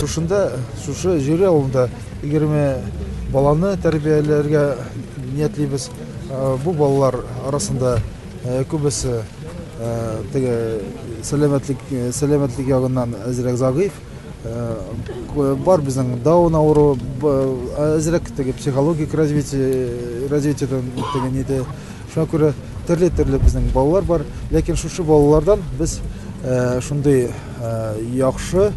Шушында, шушы Җөре авылында 20 баланы тәрбияләргә ниятлибез. Бу балалар арасында күбесе теге сәламәтлек сәламәтлек ягыннан әзрәк загыйф. Бар безнең даун авыру, әзрәк теге психологик развитие развитиедән теге ниде Шуңа күрә төрле-төрле безнең балалар бар, ләкин шушы балалардан без шундый яхшы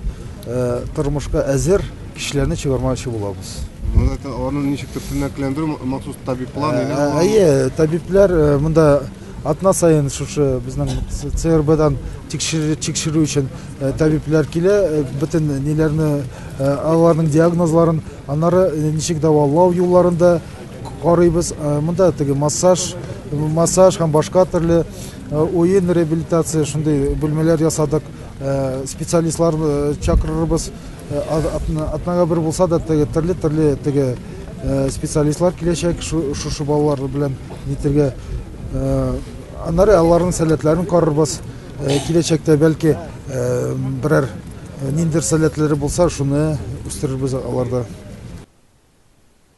тормышка әзер кешеләрне чыгармакчы булабыз. Монда аны ничектер тернәкләндерү махсус табиблар ниләр бар? Әйе, табиблар монда атна саен шушы безнең ЦРБдан тикшерү өчен табиблар килә, бөтен ниләрне аларның диагнозларын, аннары ничек дәвалау юлларында Карыйбыз, монда теге массаж, массаж һәм башка төрле уен реабилитация шундый бүлмәләр ясадык. Специалистлар чакырырбыз. Атнага бер булса да теге төрле төрле теге специалистлар киләчәк шушы балалар белән нитергә. Аннары аларның сәләтләрен карарбыз. Киләчәктә бәлки берәр ниндер сәләтләре булса, шуны үстерербез аларда.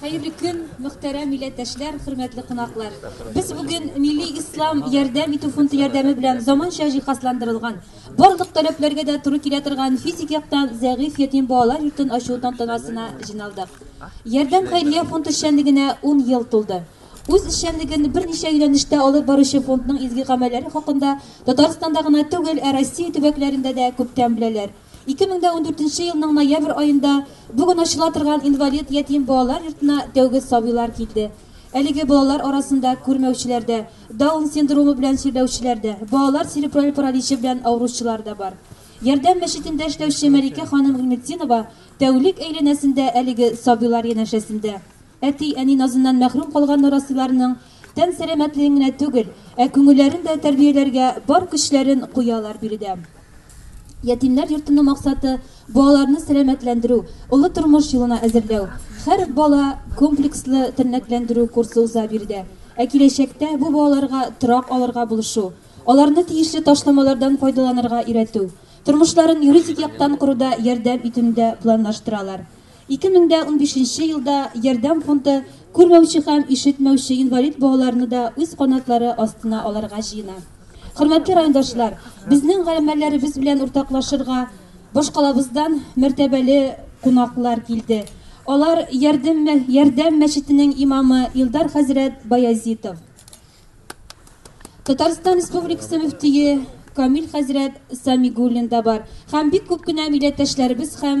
Хәерле көн, мөхтәрәм милләттәшләр, хөрмәтле кунаклар! Без бүген Милли Ислам ярдәм итү фонды ярдәме белән заманча җиһазландырылган, барлык таләпләргә дә туры килә торган физик яктан зәгыйфь ятим балалар йортын ачу тантанасына җыйналдык. Ярдәм хәйрия фонд эшчәнлегенә ун ел тулды. Үз эшчәнлеген берничә юнәлештә алып баручы фондның изге гамәлләре хакында Татарстанда гына түгел, ә Россия төбәкләрендә дә күптән беләләр. Ике мең дә ундүртенче елның ноябрь аенда бүген ачыла торган инвалид ятим балалар йортына тәүге сабыйлар килде. Әлеге балалар арасында күрмәүчеләр дә, Даун синдромы белән сөйләүчеләр дә, балалар церебраль параличы белән авыручылар да бар. Ярдәм мәчетендә эшләүче Мәликә ханым Гыйлметдинова тәүлек әйләнәсендә әлеге сабыйлар янәшәсендә. Әти, әни назыннан мәхрүм калган нарасыйларның тән сәламәтлеген генә түгел, ә күңелләрен дә тәрбияләргә бар көчләрен куялар биредә. Ятимнәр йортының максаты, балаларны сәламәтләндерү, олы тормыш юлына әзерләү. Һәр бала комплекслы тернәкләндерү курсы уза биредә. Ә киләчәктә бу балаларга торак алырга булышу, аларны тиешле ташламалардан файдаланырга өйрәтү, тормышларын юридик яктан коруда ярдәм итүне дә планлаштыралар. Ике мең дә унбишенче елда Ярдәм фонды күрмәүче һәм ишетмәүче инвалид балаларны да үз канатлары астына алырга җыена. Хөрмәтле райондашлар, безнең гамәлләребез белән уртаклашырга башкалабыздан мәртәбәле кунаклар килде. Алар Ярдәм, Ярдәм мәчетенең имамы Илдар хәзрәт Баязитов, Татарстан Республикасы мөфтие Камил хәзрәт Самигуллин да бар һәм бик күп кенә милләттәшләребез һәм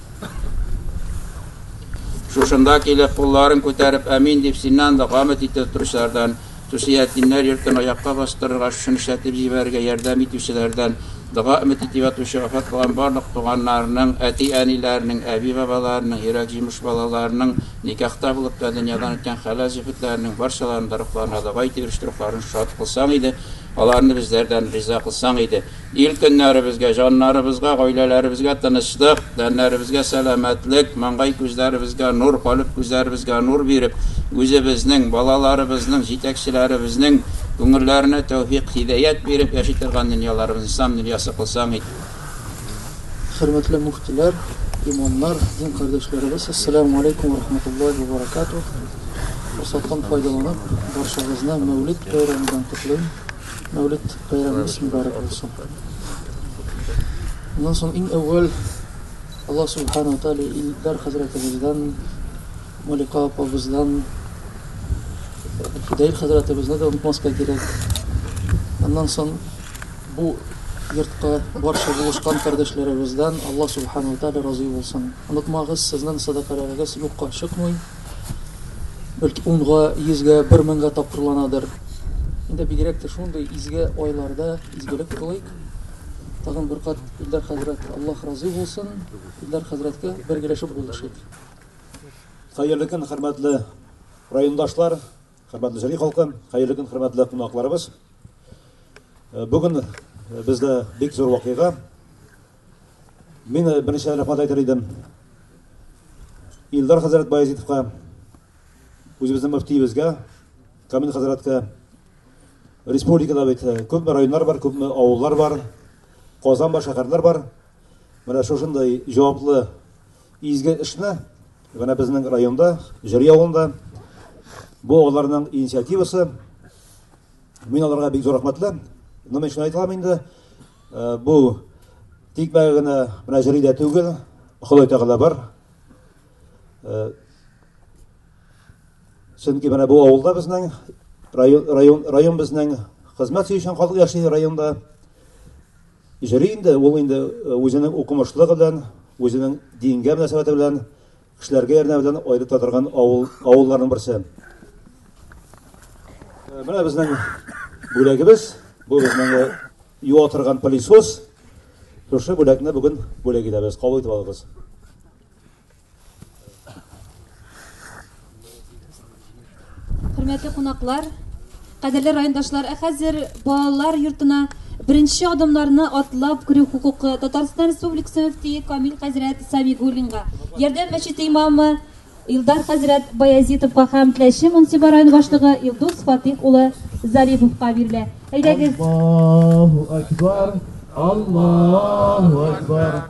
Шушында килеп, кулларын күтәреп, әмин дип, синнан да гамет итә торучылардан, Тусиятдиннәр йортын аякка бастырырга, шушыны эшләтеп җибәрергә ярдәм итүчеләрдән, дога өмет итеп ятучы вафат булган барлык туганнарының, әти-әниләренең, әби-бабаларының, йөрәк җимеш балаларының, никахта булып та дөньядан үткән хәләл җефетләренең барчаларының да рухларына дога итеп ирештерү рухларын шат кылсаң иде, аларны безләрдән риза кылсаң иде. Ил көннәребезгә, җаннарыбызга, гаиләләребезгә тынычлык, тәннәребезгә сәламәтлек, маңгай күзләребезгә нур, калеб күзләребезгә нур биреп, үзебезнең, балаларыбызның, җитәкчеләребезнең күңелләренә тәүфикъ-һидәят биреп, яши торган дөньяларыбызны Ислам дөньясы кылсаң иде. Хөрмәтле муфтиләр, имамнар, дин кардәшләребез, Әссәләмү алейкум вә рахматуллаһи вә баракатуһ! Форсаттан файдаланып, барчагызны Мәүлид бәйрәме белән котлыйм! Мәүлид бәйрәмегез мөбарәк булсын. Моннан соң иң әүвәл Аллаһ Субхану Тәгалә Илдар хәзрәтебездән, Малика апабыздан, Фидаил хәзрәтебезне дә онытмаска кирәк. Моннан соң бу йортка барча булышкан кардәшләребездән Аллаһ Субхану Тәгалә разый булсын. Онытмагыз, сезнең садакаларыгыз юкка чыкмый. Бәлки унга, йөзгә, бер меңгә тапкырланадыр. Инде бигрәк тә шундый изге айларда изгелек кылыйк. Тагын бер кат Илдар хәзрәт Аллаһ разый булсын. Илдар хәзрәткә бергәләшеп булышыйк. Хәерле көн, хөрмәтле райондашлар, хөрмәтле җыри халкы, хәерле көн, хөрмәтле кунакларыбыз. Бүген бездә бик зур вакыйга. Мин э, беренче рәхмәт әйтер идем. Илдар хәзрәт Баязитовка, үзебезнең мөфтиебезгә, Камил хәзрәткә. Республикада бит э, күпме районнар бар, күпме авыллар бар, Казан бар, шәһәрләр бар. Менә шушындай җаваплы изге эшне менә безнең районда, Җөрия авылында бу аларның инициативасы. Мин аларга бик зур рәхмәтле. Менә шуны әйтәм инде. Бу тик бай гына менә җырый да түгел, Ходай Тәгалә бар. Чөнки менә бу авылда безнең район район район безнең хезмәт сөючән халык яши районда. Җыри инде, ул инде үзенең укымышлыгы белән, үзенең дингә мөнәсәбәте белән Кешеләргә ярдәм белән аерыта торган авыл авылларның берсе. Э, менә безнең бүләгебез, бу безнең э, юа торган пылесос. Шушы бүләкне бүген бүләк итәбез. Кабул итеп алыгыз. Хөрмәтле кунаклар, кадерле райондашлар, ә хәзер балалар йортына беренче адымнарны атлап керү хокукы Татарстан Республикасы мөфтие Камил хәзрәт Сабигуллинга, Ярдәм мәчете имамы Илдар хәзрәт Баязитовка һәм Тләче муниципаль район башлыгы Илдус Фатих улы Зариповка бирелә. Әйдәгез. Аллаһу акбар. Аллаһу акбар.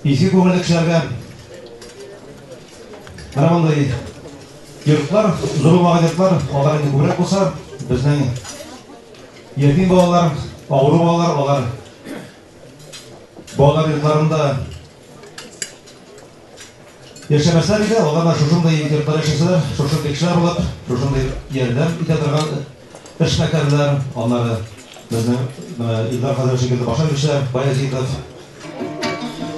Изге күңелле кешеләргә менә мондый йортлар, зурлаган йортлар, алар инде күбрәк булса, безнең ятим балалар, авыру балалар, алар балалар йортларында яшәмәсләр иде, алар да шушындый йортлар яшәсәләр, шушы кешеләр булып, шушындый ярдәм итә торган Эшмәкәрләр, аннары безнең менә Илдар хәзрәт шикелле башлангычлар, Баязитов.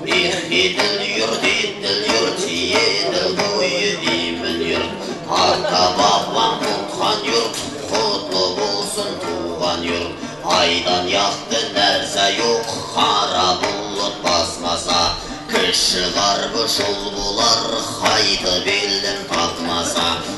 Их, Идел йорт, Идел йорт, Идел буе имин йорт. Ата-бабаң тоткан йорт, котлы булсын туган йорт. Айдан якты нәрсә юк, кара болыт басмаса. Кеше гарбы шул булар, кайтып илдең тапмаса.